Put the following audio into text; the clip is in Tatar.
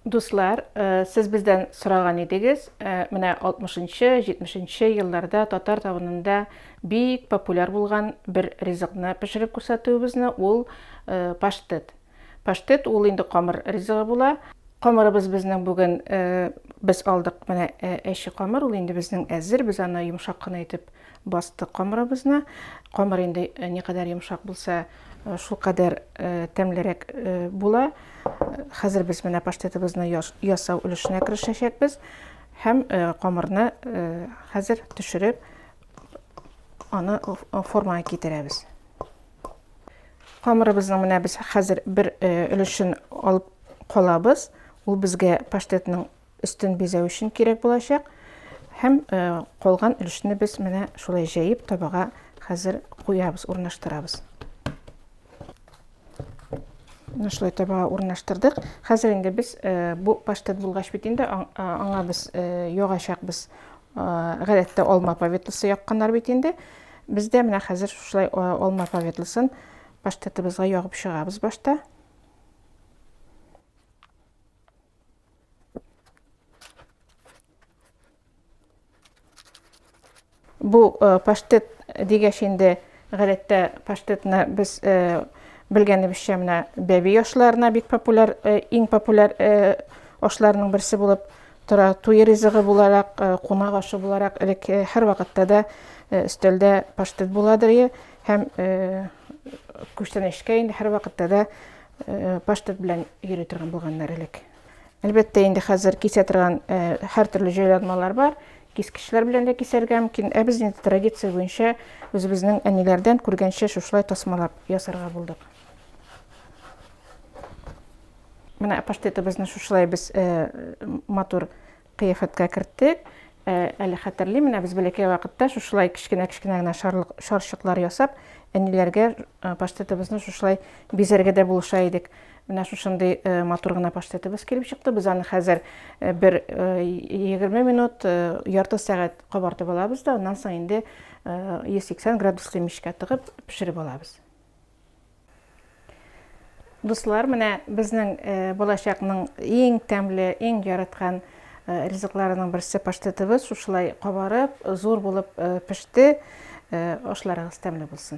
Дуслар, сез бездән сораган идегез, менә 60 нчы, 70 нче елларда татар табынында бик популяр булган бер ризыкны пешереп күрсәтүебезне, ул паштет. Паштет ул инде камыр ризыгы була. Камырыбыз безнең бүген без алдык менә әче камыр, ул инде безнең әзер, без аны йомшак кына итеп Бастык камырыбызны. Камыр инде никадәр йомшак булса, шулкадәр тәмлерәк була. Хәзер без менә паштетыбызны ясау өлешенә керешәчәкбез һәм камырны хәзер төшереп, аны формага китерәбез. Камырыбызның менә без хәзер бер өлешен алып калабыз. Ул безгә паштетның Өстен бизәү өчен кирәк булачак. Һәм калган өлешне без менә шулай җәеп табага хәзер куябыз, урнаштырабыз. Менә шулай табага урнаштырдык. Хәзер инде без бу паштет булгач бит инде аңа без ягачакбыз. Гадәттә алма поветлысы якканнар бит инде. Без дә менә хәзер шулай алма поветлысын паштетыбызга ягып чыгабыз башта. Бу э, паштет дигәч инде гадәттә паштетны без э, белгәнебезчә менә бәби ашларына бик популяр э, иң популяр ашларының берсе булып тора. Туй ризыгы буларак, кунак ашы буларак элек һәр вакытта да өстәлдә паштет буладыр һәм күчтәнәчкә инде һәр вакытта да э, паштет белән йөри торган булганнар элек. Әлбәттә, инде хәзер кисә торган э, һәртөрле җайланмалар бар. Кискечләр белән дә кисәргә мөмкин. Ә без инде традиция буенча үзебезнең әниләрдән күргәнчә шушылай тасмалап ясарга булдык. Менә паштетыбызны шушылай без э, матур Кыяфәткә керттек. Ә, әле хәтерлим, менә без бәләкәй вакытта шушылай кечкенә-кечкенә генә шарлык, шарчыклар ясап, әниләргә паштетыбызны шушылай бизәргә дә булыша идек. Менә шушындый матур гына паштетыбыз килеп чыкты. Без аны хәзер бер егерме минут, ярты сәгать кабартып алабыз да, аннан соң инде 180 градуслы мичкә тыгып пешереп алабыз. Дуслар, менә безнең э, балачакның иң тәмле, иң яраткан э, ризыкларының берсе паштетыбыз шушылай кабарып, зур булып э, пеште. Ашларыгыз тәмле булсын.